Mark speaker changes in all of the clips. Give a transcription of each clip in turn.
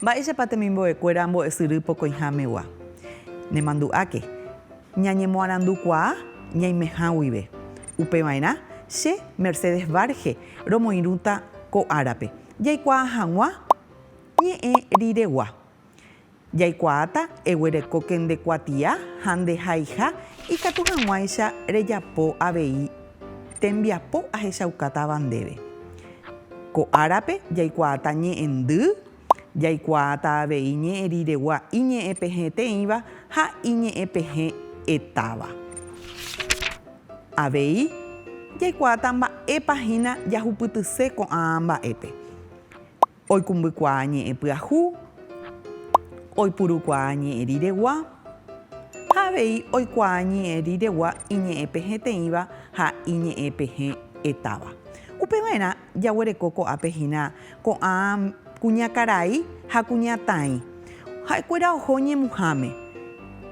Speaker 1: Mba'éichapa temimbo'ekuéra ambo'esyry pokõihámegua? Nemandu'áke, ñañemoarandukuaa ñaimeha guive. Upeva'erã, che, Mercedes Varge, romoirũta ko árape. jaikuaa hag̃ua ñe'ẽ riregua. Jaikuaáta eguereko ke nde kuatia ha nde haiha ikatu hag̃uáicha rejapo avei tembiapo ahechaukátava ndéve. Ko árape jaikuaáta ñe'ẽndy, jaikuaáta avei ñe'ẽ riregua iñe'ẽpehẽteĩva ha iñe'ẽpehẽ etáva. Avei, jaikuaáta mba'épa hína jahupytyse ko'ã mba'épe. Oikũmbykuaa ñe'ẽ pyahu, oipurukuaa ñe'ẽ riregua, ha avei oikuaa ñe'ẽ riregua iñe'ẽpehẽteĩva ha iñe'ẽpehẽ'etáva. Upeva'erã Jaguereko ko'ápe hína ko'ã kuñakarai ha kuñataĩ. Ha'ekuéra oho ñemuháme.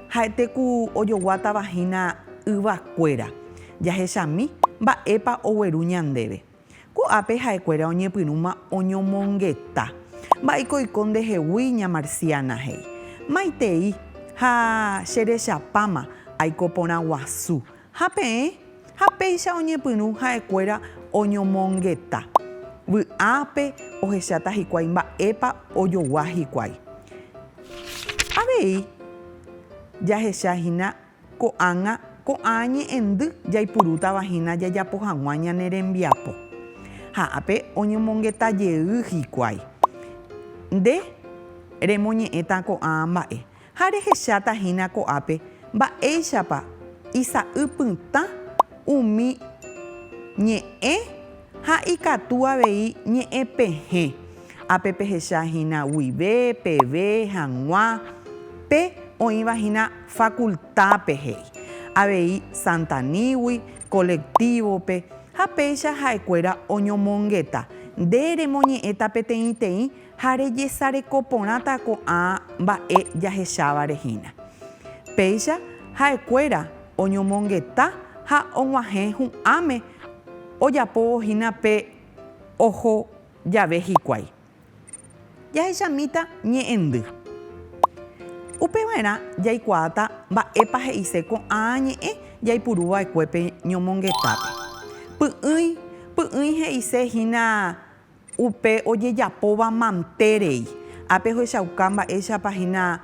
Speaker 1: Ha'ete ku ojoguátava hína yvakuéra. Jahechami mba'épa ogueru ñandéve. Ko'ápe ha'ekuéra oñepyrũma oñomongeta. Mba'éiko oiko ndehegui ña Marciana, he'i. Maitei ha cherechapáma aiko porã guasu, Ha peẽ, ha péicha oñepyrũ ha'ekuéra oñomongeta. Vy'ápe ohecháta hikuái mba'épa ojogua hikuái. Avei jahecha hína ko'ág̃a ko'ã ñe'ẽndy jaipurútava hína jajapo hag̃ua ñane rembiapo. Ha ápe oñomongeta jey hikuái. Nde remoñe'ẽta ko'ã mba'e. Ha rehecháta hína ko'ápe mba'éichapa isa'y pytã umi ñe'ẽ ha ikatu avei ñe'ẽ pehẽ. Ápe pehecha hína guive, peve, hag̃ua, pe oĩva hína fakultápe, he'i avei Santanígui, kolektívope, ha péicha ha'ekuéra oñomongeta, nde remoñe'ẽta peteĩteĩ Ha rejesareko porãta ko'ã mba'e jahechávare hína. Péicha ha'ekuéra oñomongeta ha og̃uahẽ hu'ãme ojapóvo hína pe oho jave hikuái. Jahechamíta ñe'ẽndy. Upeva'erã jaikuaáta mba'épa he'ise ko'ã ñe'ẽ jaipuru va'ekue pe ñomongetápe. Py'ỹi py'ỹi he'ise hína Upe ojejapóva mante rei. Ápe ohechauka mba'éichapa hína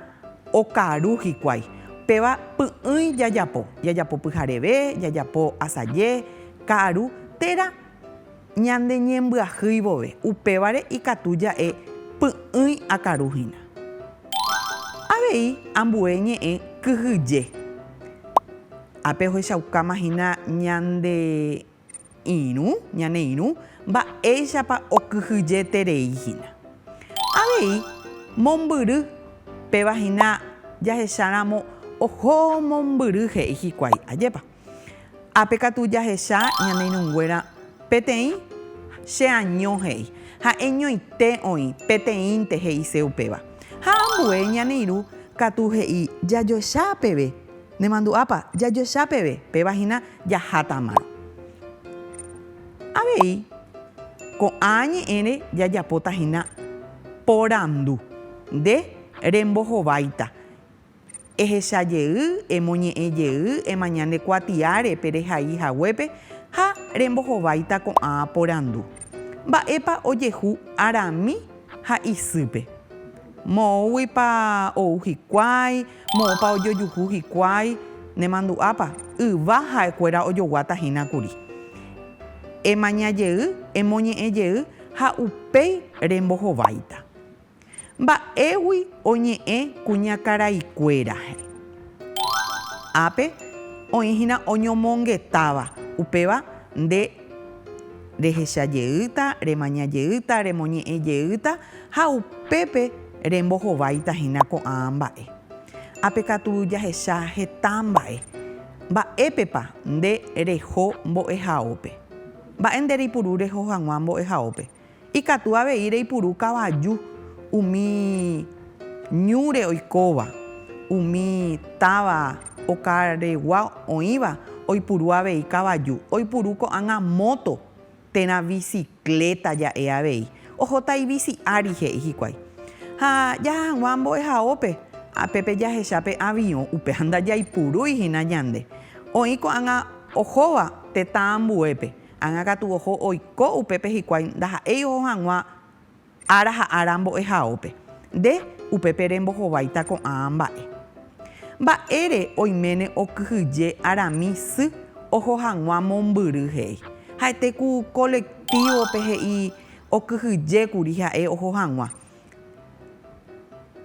Speaker 1: okaru hikuái. Péva py'ỹi jajapo. Jajapo pyhareve, jajapo asaje, ka'aru, térã ñandeñembyahýi vove. Upévare ikatu ja'e py'ỹi akaru hína. Avei ambue ñe'ẽ kyhyje. Ápe ohechaukáma hína ñande Irũ, ñane irũ, mba'éichapa okyhyjeterei hína. Avei, mombyry, péva hína jahecháramo oho mombyry he'i hikuái, ajépa. Ápe katu jahecha ñane irũnguéra peteĩ, che año he'i, ha'e ñoite oĩ, peteĩnte he'ise upéva. Ha ambue ñane irũ katu he'i jajoecha peve, nemandu'ápa, jajoecha peve, péva hína Jahátamaro. Avei, ko'ã ñe'ẽre jajapóta hína porandu, Nde rembohováita, ehecha jey, emoñe'ẽ jey, emaña nde kuatiáre pe rehai haguépe ha rembohováita ko'ã porandu, Mba'épa ojehu arami ha isýpe? Moõguipa ou hikuái? Moõpa ojojuhu hikuái nemandu'ápa? Yva ha'ekuéra ojoguáta hína kuri. Emaña jey, emoñe'ẽ jey ha upéi rembohováita. Mba'égui oñe'ẽ kuñakaraikuéra hẽ. Ápe oĩ hína oñomongetáva, upéva nde. rehecha jeýta, remaña jeýta, remoñe'ẽ jeýta ha upépe rembohováita hína ko'ã mba'e. Ha pe katu jahecha heta mba'e. Mba'épepa nde reho mbo'ehaópe? Mba'e nde reipuru reho hag̃ua mbo'ehaópe? Ikatu avei reipuru kavaju umi ñúre oikóva, umi táva okaregua oĩva oipuru avei kavaju, oipuru ko'ág̃a móto térã visikléta ja'e avei. Ohóta ivisi ári, he'i hikuái. Ha jaha hag̃ua mbo'ehaópe, apépe jahecha pe aviõ, upéva ndajaipurúi hína ñande. Oĩ ko'ág̃a ohóva tetã ambuépe. Ág̃a katu oho oiko upépe hikuái ndaha'éi oho hag̃ua ára ha ára mbo'ehaópe. Nde, upépe rembohováita ko'ã mba'e. Mba'ére oiméne okyhyje arami sy oho hag̃ua mombyry he'i. Ha'ete ku kolektívope he'i okyhyjékuri ha'e oho hag̃ua.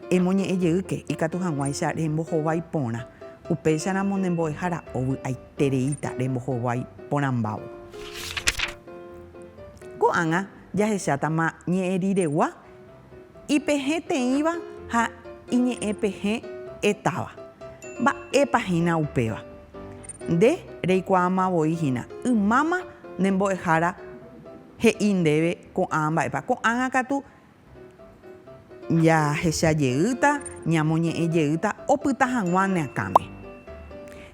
Speaker 1: Emoñe'ẽ jeýke ikatu hag̃uáicha rembohovái porã, upéicharamo ne mbo'ehára ovy'aitereíta rembohovái porãmbávo. Ko'ág̃a jahechátama ñe'ẽ riregua, ipehẽ teĩva ha iñe'ẽpehẽ etáva. Mba'épa hína upéva? Nde reikuaáma voi hína, ymáma ne mbo'ehára he'i ndéve ko'ã mba'épa. Ko'ág̃a katu Jahecha jeýta, ñamoñe'ẽ jeýta opyta hag̃ua ne akãme.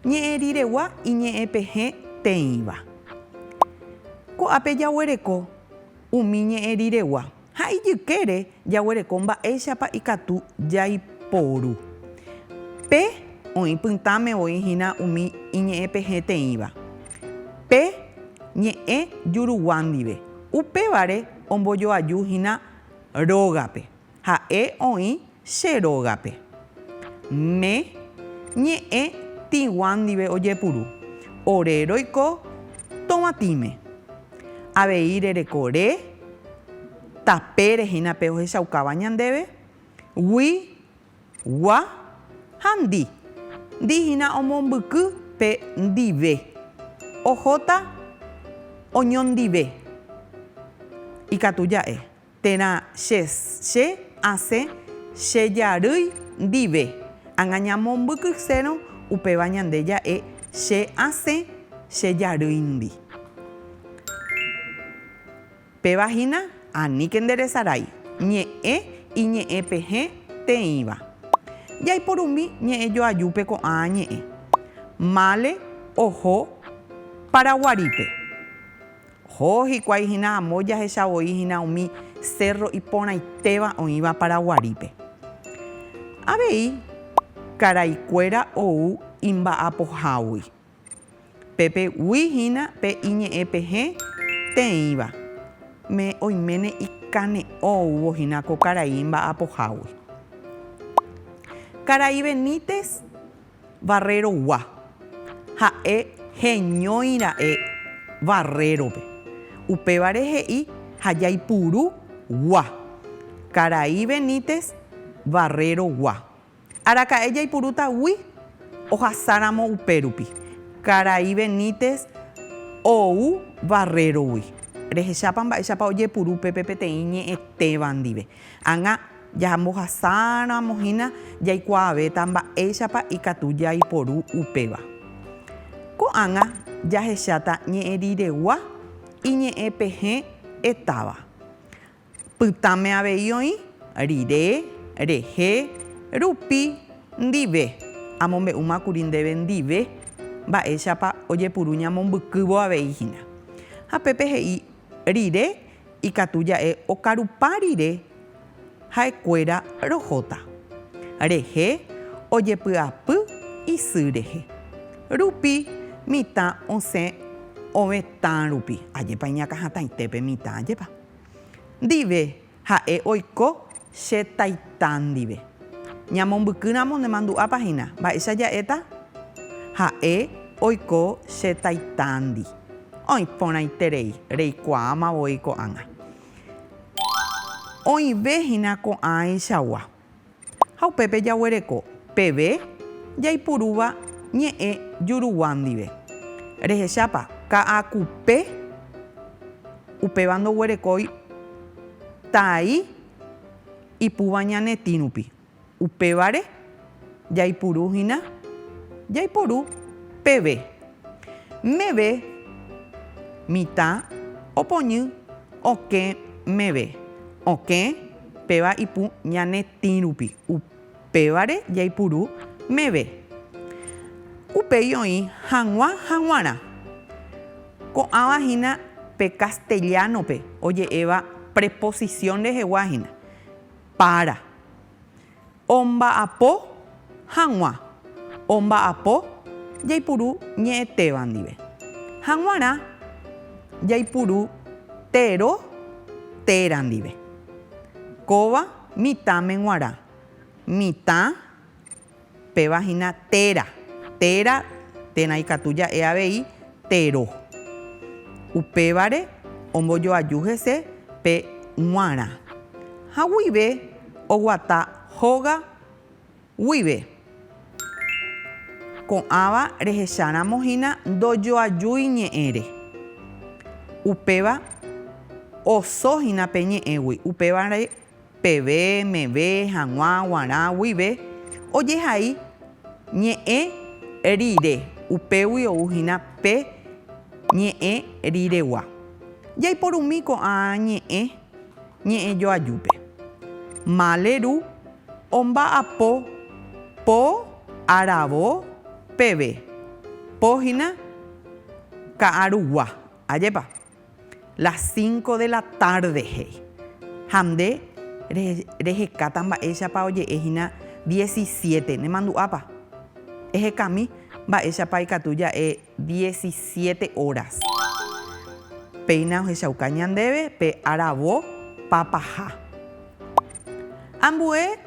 Speaker 1: Ñe'ẽ riregua iñe'ẽ pehẽ teĩva. Ko'ápe jaguereko umi ñe'ẽ riregua ha ijykére jaguereko mba'éichapa ikatu jaiporu. Pe oĩ pytãme voi hína umi iñe'ẽ pehẽ teĩva pe ñe'ẽ jurugua ndive. Upévare Ombojoaju hína rógape. Ha'e oĩ che rógape. Mme ñe'ẽ tĩgua ndive ojepuru. Ore roiko tovãtĩme. Avei rereko re, tapére hína pe ohechaukáva ñandéve, gui Gua, ha ndi. Ndi hína omombyky pe ndive. Ohóta oñondive. Ikatu ja'e. Térã che, che asẽ che jarýi ndive. Ág̃a ñamombykysérõ upéva ñande ja'e che asẽ che jarýi ndi. Péva hína aníke nde resarái ñe'ẽ iñe'ẽ pehẽ teĩva. Jaiporumi ñe'ẽ joajúpe ko'ã ñe'ẽ. Mále oho Paraguarípe. Oho hikuái hína amo jahecha voi hína umi cérro iporãitéva oĩva Paraguarípe. Avei, karaikuéra ou imba'apohágui. Pépe gui hína pe iñe'ẽ pehẽ teĩva, me oiméne ikane'õ ouvo hína ko karai mba'apohágui. Karai Benítez Barrerogua, ha'e heñói ra'e Barrérope, upévare he'i ha jaipuru gua, Karai Benítez Barrerogua. Araka'e jaipurúta gui ohasáramo upérupi. Karai Benítez ou Barrero-gui. Rehechápa mba'éichapa ojepuru pépe peteĩ ñe'ẽtéva ndive. Ág̃a jahambohasáramo hína jaikuaavéta mba'éichapa ikatu jaiporu upéva. Ko'ág̃a jahecháta ñe'ẽriregua iñe'ẽpehẽ etáva. Pytãme avei oĩ, rire, rehe, rupi, ndive. Amombe'úma kuri ndéve ndive mba'éichapa ojepuru ñamombykývo avei hína. Ha pépe he'i rire ikatu ja'e okarupa rire ha'ekuéra rohóta. Rehe ojepy'apy isy rehe. Rupi mitã osẽ ovetã rupi. Ajépa iñakãhatãite pe mitã, ajépa. Ndive, ha'e oiko che Taita ndive. Ñamombykýramo nemandu'ápa hína, mba'éicha ja'éta? Ha'e oiko che Taitándi. Oĩ porãiterei, reikuaáma voi ko'ág̃a. Oĩve hína ko'ãichagua. Ha upépe jaguereko peve jaipurúva ñe'ẽ juruguã ndive. Rehechápa, ka'akupe upéva ndoguerekói tai ipúva ñanetĩ rupi. Upévare jaipuru hína jaiporu peve. Meve mitã opoñy okẽ meve, okẽ Péva ipu ñane tĩ rupi, upévare jaipuru meve. Upéi oĩ hag̃ua haguãrã. Ko'ãva hína pe castellano-pe oje'éva preposición rehegua hína, para. Omba'apo hag̃ua. Omba'apo jaipuru ñe'ẽtéva ndive. Haguãrã jaipuru tero téra ndive. Kóva mitãme guarã. Mitã, péva hína téra. Téra térã ikatu ja'e avei tero. Upévare ombojoaju hese pe guarã. Haguive. Oguata hóga guive. Ko'ãva rehecháramo hína ndojoajúi ñe'ẽre. Upéva oso hína pe ñe'ẽgui. Upévare peve, meve, hag̃ua, guarã, guive ojehai ñe'ẽ rire. Upégui ou hína pe ñe'ẽ riregua. Jaiporumi ko'ã ñe'ẽ. ñe'ẽjoajúpe. Mále ru omba'apo po aravo peve, po hína ka'arugua, ajépa? Las cinco de la tarde he'i. Ha nde rehekáta mba'éichapa oje'e hína diecisiete, nemandu'ápa? Ehekami mba'éichapa ikatu ja'e. Diecisiete óras. Péina ohechauka ñandéve pe aravo papaha. Ambue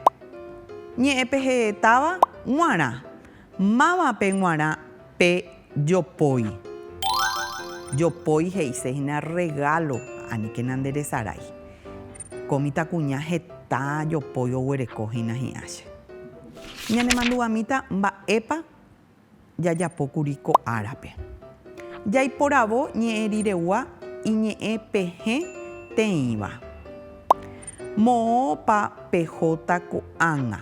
Speaker 1: ñe'ẽpehetáva g̃uarã. Mávape g̃uarã pe jopói? Jopói he'ise hína rregálo, aníkena nde resarái. Ko mitãkuña heta jopói oguereko hína hi'ã che. Ñanemanduvamíta mba'épa. jajapókuri ko árape. Jaiporavo ñe'ẽ riregua iñe'ẽ pehẽ teĩva. Moõpa pehóta ko'ág̃a?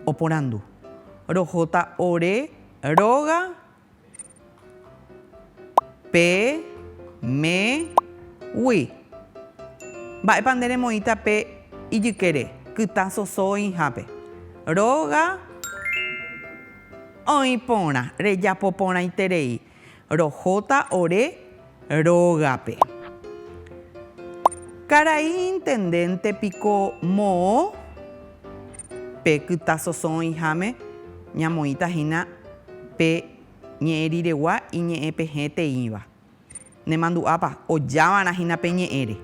Speaker 1: Oporandu. Rohóta ore róga? Pe, me, gui. Mba'épa nde remoĩta pe ijykére, kytã soso oĩhápe? Róga oĩ porã, rejapo porãiterei. Rohóta ore rógape. Karai intendénte piko moõ pe kytã soso oĩháme? Ñamoĩta hína pe. Ñe'ẽ riregua iñe'ẽ pehẽ teĩva. Nemandu'ápa, ojávarã hína pe ñe'ẽre.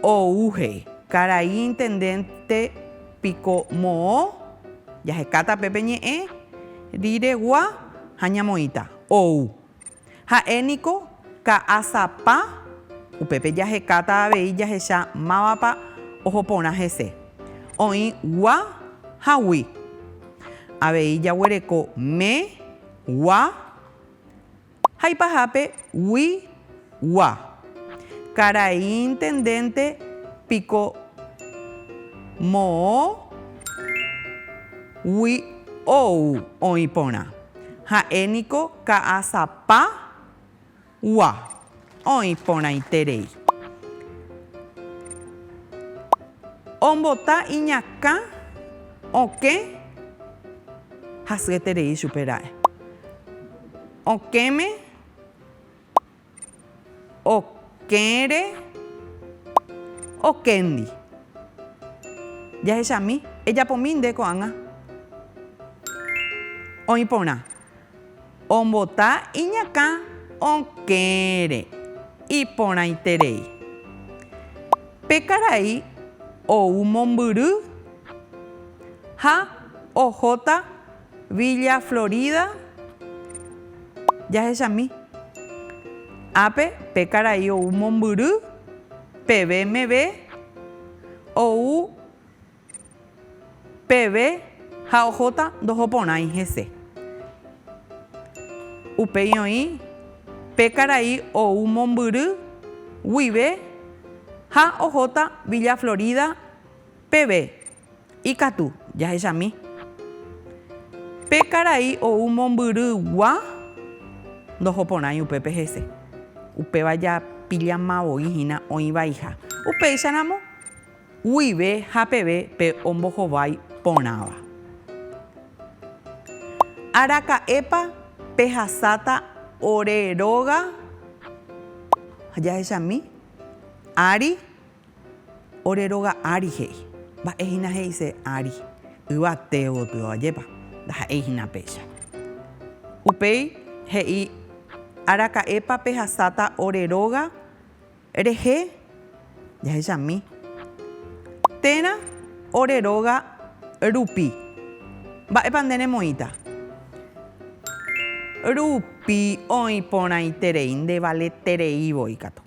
Speaker 1: Ou he'i, Karai intendénte piko moõ? Jahekáta pe pe ñe'ẽ riregua ha ñamoĩta. Ou. Ha'e niko ka'asapa, upépe jahekáta avei jahecha mávapa oho porã hese, oĩ gua ha gui. Avei jaguereko me, gua, ha ipahápe gui, gua. Karai intendénte piko moõ gui ou oĩ porã. Ha'e niko ka'asapa gua oĩ porãite rei. Ombota iñakã okẽ hasyete rei chupe ra'e. Okẽme. Okẽre, okéndi. Jahechami, ejapomi nde ko'ág̃a. Oĩ porã. Ombota iñakã okẽre, iporãiterei. Pe karai ou mombyry ha ohóta Villa Florida jahechami. Ápe pe karai ou mombyry peve meve ou peve ha ohóta ndoho porãi hese. Upéi oĩ pe karai ou mombyry guive ha ohóta Villa Florida. Peve ikatu jahechami. Pe karai ou mombyrygua ndoho porãi upépe hese. Upéva japillama voi hína oĩ vaiha. Upéicharamo, guive ha peve pe ombohovái porãva. Araka'épa pehasáta ore róga jahechami ári? Ore róga ári he'i. Mba'e hína he'ise ári. Yvate gotyo ajépa. Ndaha'éi hína péicha. Upéi he'i, Araka'épa pehasáta ore róga rehe jahechami térã ore róga rupi. Mba'épa nde remoĩta? Rupi oĩ porãiterei, ndevaletereivoi katu.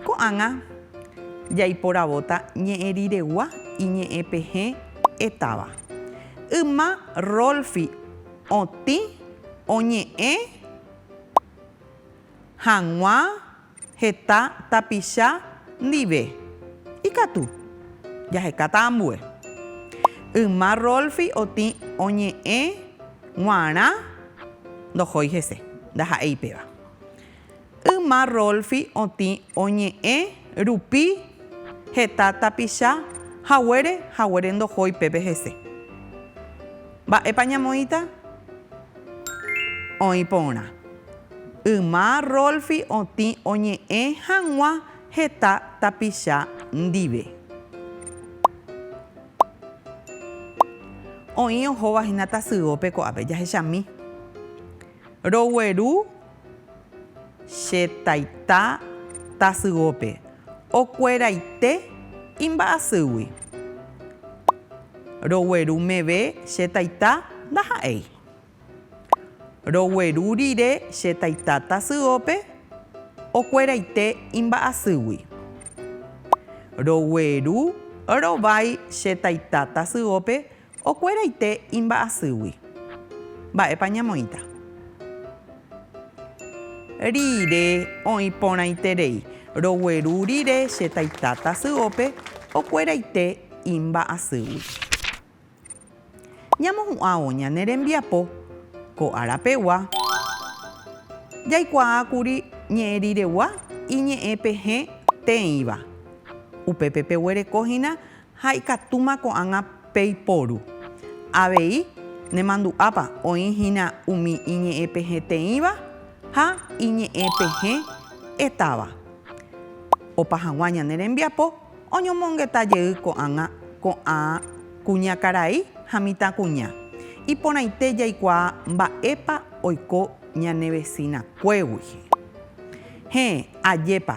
Speaker 1: Ko'ág̃a jaiporavóta ñe'ẽ riregua iñe'ẽpehẽ etáva. Yma Rolfi otĩ oñe'ẽ hag̃ua heta tapicha ndive. Ikatu, jahekáta ambue. Yma Rolfi otĩ oñe'ẽ g̃uarã ndohói hese, ndaha'éi péva. Yma Rolfi otĩ oñe'ẽ rupi heta tapicha haguére haguére ndohói pépe hese. Mba'épa ñamoĩta? Oĩ porã. Yma Rolfi otĩ oñe'ẽ hag̃ua heta tapicha ndive. Oĩ ohóva hína tasyópe ko'ápe. Jahechami. Rogueru che taita tasyópe okueraite imba'asýgui. Rogueru meve che taita ndaha'éi. Rogueru rire che taita tasyópe okueraite imba'asýgui. Rogueru rovái che taita tasyópe Okueraite imba'asýgui. Mba'épa ñamoĩta. Rire oĩ porãiterei. Rogueru rire che taita tasyópe okueraite imba'asýgui. Ñamohu'ãvo ñane rembiapo ko árapegua. Jaikuaákuri ñe'ẽriregua iñe'ẽ pehẽ teĩva. Upépe peguereko hína Ha ikatúma ko'ág̃a peiporu. Avei, nemandu'ápa oĩ hína umi iñe'ẽpehẽteĩva ha iñe'ẽpehẽ'etáva. Opa hag̃ua ñane rembiapo oñomongeta jey ko'ág̃a ko'ã kuñakarai ha mitãkuña. Iporãite jaikuaa mba'épa oiko ñane vesinakuégui. Héẽ, ajépa